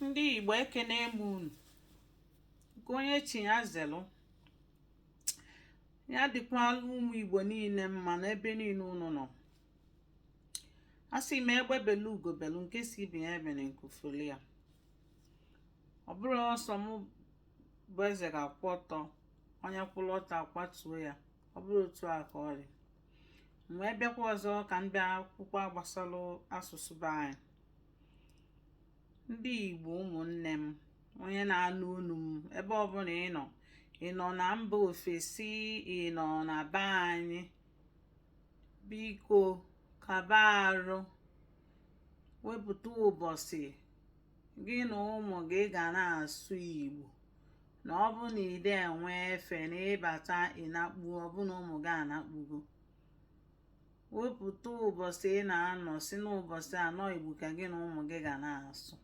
ndị igbo ekene m unu nke onye chi ya zelụ ya dịkwala ụmụ igbo niile mma n'ebe niile unu nọ asị m egbe belu ugo belu nke sị ibe ya ebene nku fuli ya ọ bụrụ ọ sọ m bụ eze ga-akwụ ọtọ onye kwụrụ ọtọ akwatuo ya ọ bụrụ otu a ka ọ dị wee bịakwa ọzọ ka m bịa kwukwaa gbasara asụsụ be anyị ndị Igbo ụmụnne m onye na-anụ onu m ebe ọbụla ị nọ ị nọ na mba ofesi ị nọ na be anyị biko kaba arụ wepụta ụbọsị gị na ụmụ gị ga na-asụ Igbo na ọ bụ na i de enwe efe na ị bata ị nakpu ọ bụ na ụmụ gị anakpugo wepụta ụbọsị ị na-anọ sị n'ụbọsị a na ọ igbo ka gị na ụmụ gị ga na-asụ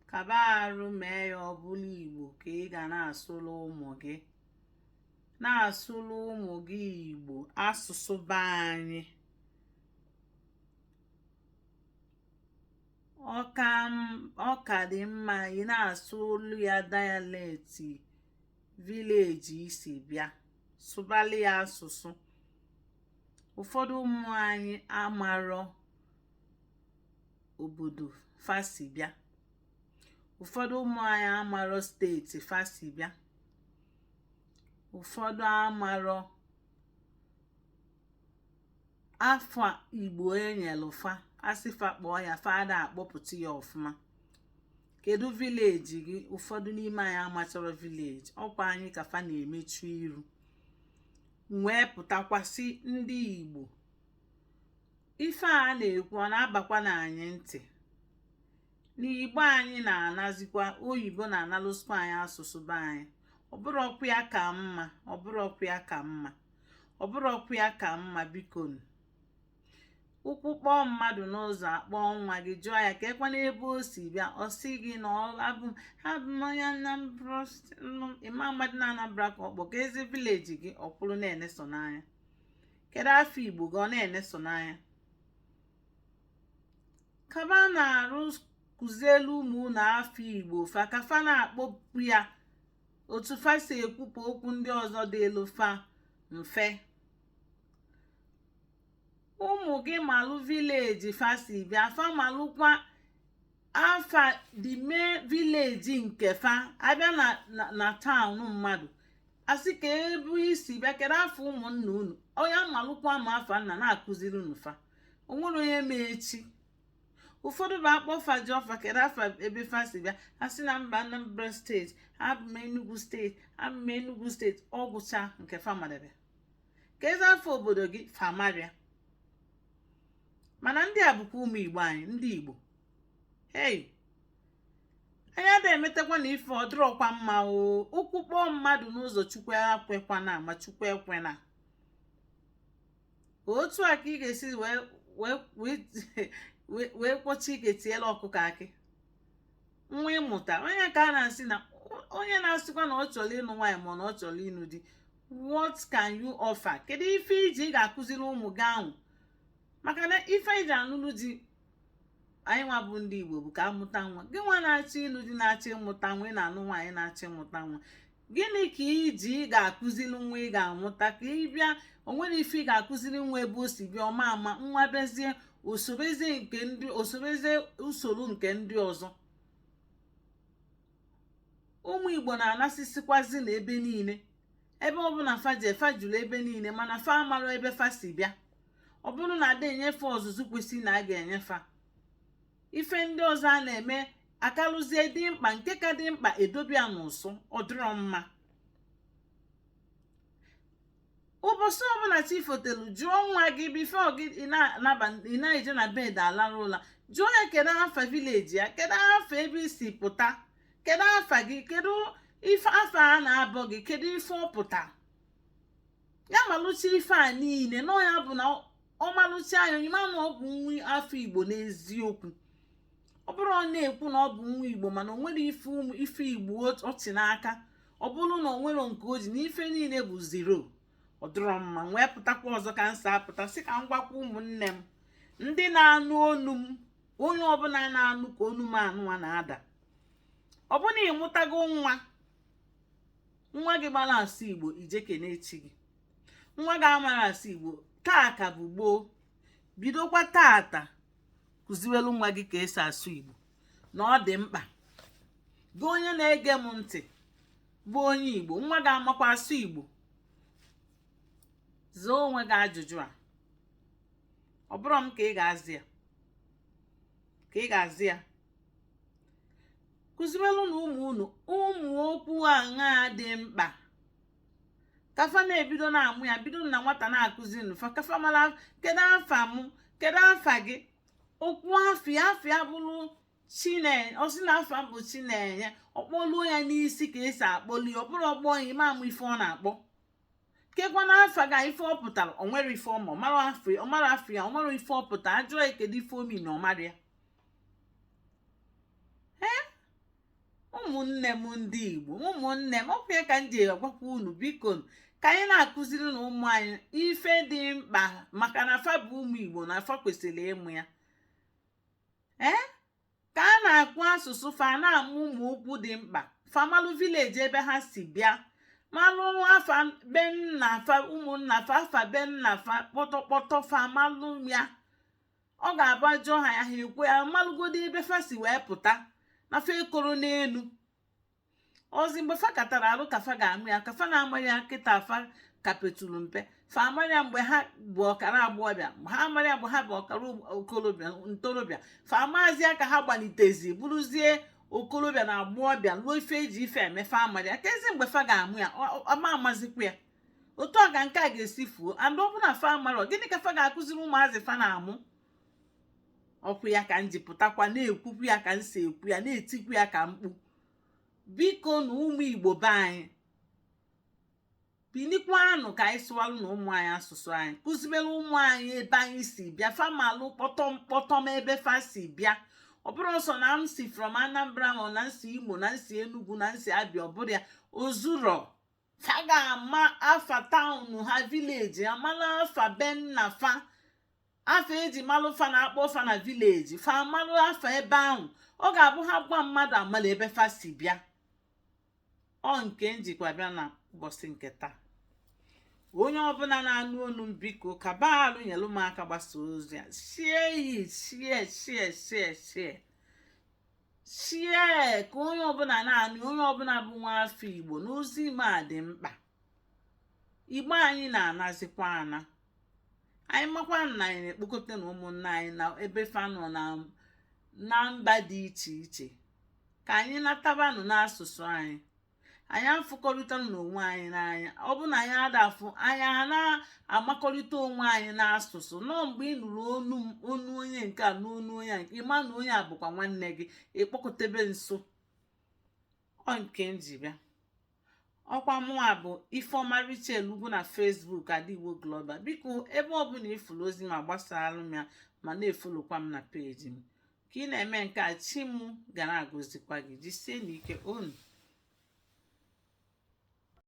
kaba arụ mee ya ọ bụlụ igbo ka ị ga na-asụrụ ụmụ gị na-asụrụ ụmụ gị igbo asụsụ be anyị ọ ka dị mma ị na-asụlụ ya dialect village i si bịa sụbalị ya asụsụ ụfọdụ ụmụ anyị amarọ obodo fa si bịa ụfọdụ ụmụ anyị amarọ state fa si bịa ụfọdụ amarọ afa igbo e nyelụ fa a sị fa kpọọ ya fa ada akpọpụta ya ọfụma kedu village gị ụfọdụ n'ime anyị amacharọ village ọkwa anyị ka fa na-emechu iru wee pụtakwa sị ndị igbo ife a na-ekwu ọ na-abakwa na anyị ntị na igbo anyị na-anazikwa oyibo na-analụsikwa anyị asụsụ be anyị ọ bụrọkwa ya ka mma ọ bụrọkwa ya ka mma ọ bụrọkwa ya ka mma biko ụkwụ kpọọ mmadụ n'ụzọ akpọọ nwa gị jụọ ya keekwanụ ebe o si bịa ọ sị gị na abụ m abụ m onye Anambra st- m- ị ma amadị na Anambra ka ọ kpọ keezi village gị ọ kwụrụ na-eneso n'anya kedu afa Igbo gị ọ na-eneso n'anya kabanụ arụ kụzielụ ụmụ unu afa Igbo fa ka fa na-akpọpụ ya otu fa si ekwupụ okwu ndị ọzọ dịịlụ fa mfe ụmụ gị malụ vileji fa si bịa fa malụkwa afa dị ime vileji nke fa a bịa na na taụn mmadụ asị ka ebe i si bịa kedu afa ụmụnna unu onye amalụkwa ma afa nna na-akụziri unu fa o nwerọ onye ma echi ụfọdụ bụ a kpọọ fa jụọ fa kedu afa ebe fa si bịa ha sị na m bụ Anambra steeti abụ m Enugu steeti abụ m Enugu steeti ọ gwụcha nke fa madebe ka ezi afa obodo gị fa amarọ ya mana ndị a bụkwa ụmụ igbo anyị ndị igbo hei anyị ada emetakwa na ife ọ dịrọkwa mma o ụkwụ kpọọ mmadụ n'ụzọ chukwu ekwekwana ma chukwu ekwena otu a ka ị ga-esi wee kwọchaa aka tielu ọkụkọ akị nwa ị mụta onye ka a na-asị na onye na-asịkwa na ọ chọrọ ịnụ nwaanyị ma na ọ chọrọ ịnụ di what can you offer kedu ife i ji ị ga-akụziri ụmụ gị ahụ maka na ife e ji anụnụ di anyị nwa bụ ndị igbo bụ ka a mụta nwa gị nwa na-achọ ịnụ di na-achọ ịmụta nwa ị na-anụ nwaanyị na-achọ ịmụta nwa gịnị ka i ji ị ga-akụziri nwa ị ga-amụta ka ị bịa o nwerọ ife ị ga-akụziri nwa ebe o si bịa ọ ma ama nwa bịazie sorozie usoro nke ndị ọzọ ụmụ igbo na-anasịsịkwazi na ebe niile ebe ọbụna fa je fa juru ebe niile mana fa amarọ ebe fa si bịa ọ bụrụ na a da enye fa ọzụzụ kwesịrị na a ga-enye fa ife ndị ọzọ a na-eme akarịzie dị mkpa nke ka dị mkpa e dobe ya n'ụsọ ọ dịrọ mma ụbọsị ọbụna chi fotelu jụọ nwa gị bifo ị na-eje na bed alarụ ụla jụọ ya kedu afa vileji ya kedu afa ebe i si pụta kedu afa gị kedu ife afa a na-akpọ gị kedu ife ọ pụta ya malụcha ife a niile na ọ ya bụ na ọ malụcha anya onye ma na ọ bụ nwa afọ igbo n'eziokwu ọ bụrụ ọ na-ekwu na ọ bụ nwa igbo mana o nwerọ ife igbo ọ chị n'aka ọ bụrụ na o nwerọ nke o ji na ife niile bụ zero ọ dịrọ mma wee pụtakwa ọzọ ka m si apụta sị ka m gwakwa ụmụnne m ndị na-anụ onu m onye ọbụna na-anụ ka onu m anụwa na-ada ọ bụrụ na ị mụtago nwa nwa gị mara asụ igbo i je kene chi gị nwa gị amarọ asụ igbo taa ka bụ gboo bidokwa taata kụziwelu nwa gị ka e si asụ igbo na ọ dị mkpa gị onye na-ege m ntị bụ onye igbo nwa gị ọ makwa asụ igbo zaa onwe gị ajụjụ a ọ bụrọ m ka ị ga-aza ya ka ị ga-aza ya kụziwelu nụ ụmụ unu ụmụ okwu aṅaa dị mkpa ka fa na-ebido na-amụ ya bido na nwata na-akụziri fa ka fa mara kedu afa mụ kedu afa gị o kwuo afa ya afa ya bụrụ chinenye ọ sị na afa bụ chinenye ọ kpọluo ya n'isi ka esi akpọli ọ bụrọ ọ kpọ ya ị ma ama ife ọ na-akpọ kekwanụ afa gị ife ọ pụtara o nwere ife ọma ọ mara afa ya ọ mara afa ya ọ mara ife ọ pụta a jụọ ya kedu ife o mean ọ mara ya ee ụmụnne m ndị igbo ụmụnne m ọkwa ya ka m ji agwakwa unu biko ka anyị na-akụziri nụ ụmụ anyị ife dị mkpa maka na fa bụ ụmụ igbo na fa kwesịrị ịmụ ya ee ka a na-ekwu asụsụ fa na-amụ ụmụ okwu dị mkpa fa malụ village ebe ha si bịa malụ afa be nna fa ụmụnna fa afa be nna fa kpọtọkpọtọ fa malụ ya ọ ga-abụ a jụọ ha ya ha ekwuo ya malụgodo ebe fa si wee pụta na fa ekoro n'elu ọ zi mgbe fa katara arụ ka fa ga-amụ ya ka fa na-ama ya kịta fa ka petulu mpe fa amarọ ya mgbe ha bụ ọkara agbọghọbịa ha amarọ ya mgbe ha bụ ọkara okolobịa ntorobịa fa amazi ya ka ha gbalitezi bụrụzie okolobịa na agbọghọbịa luo ife eji ife eme fa amarọ ya kezi mgbe fa ga-amụ ya a ma amazikwa ya otu a ka nke a ga-esi fuo and ọ bụ na fa amarọ gịnị ka fa ga-akụziri ụmụazị fa na-amụ okwu ya ka m ji pụtakwa na-ekwukwu ya ka m si ekwu ya na-etikwu ya ka mkpu biko nụ ụmụ igbo be anyị binikwanụ ka anyị sụwalụ nụ ụmụ anyị asụsụ anyị kụzibere ụmụ anyị ebe anyị si bịa fa malụ kpọtọm ebe fa si bịa ọ bụrọ sọ na m si from anambra ma na m si imo na m si enugu na m si abịa ọ bụrọ ya o zuro fa ga-ama afa town ha village amala afa be nna fa afa eji malụ fa na-akpọ fa na village fa amalụ afa ebe ahụ ọ ga-abụ ha gwa mmadụ amala ebe fa si bịa ọ nke m jikwa bịa na ụbọchị nke taa onye ọbụla na-anụ onu m biko ka baalụ nyelụ m aka gbasa ozi a share ya share share share share share ka onye ọbụla na-anụ onye ọbụla bụ nwa afọ igbo na ozi m a dị mkpa igbo anyị na-anazikwa ana anyị makwa na anyị na-ekpokọta na ụmụnna anyị na ebe fa nọ na mba dị iche iche ka anyị natabanụ n'asụsụ anyị anyị afụkọrịta n'onwe anyị n'anya ọ bụ na anyị adafụ anyị a na-amakọrịta onwe anyị n'asụsụ na ọ mgbe ị nụrụ onu onu onye nke a n'onu onye nke ị ma na onye a bụkwa nwanne gị ị kpọkọtebe nso ọ nke m ji bịa ọkwa mụnwa bụ ifeọma rachel ugwu na facebook adaigbo global biko ebe ọbụla ị fụrụ ozi m a gbasara m ya ma na-efolokwa m na page m ka ị na-eme nke a chi m ga na-agọzikwa gị jisie n'ike unu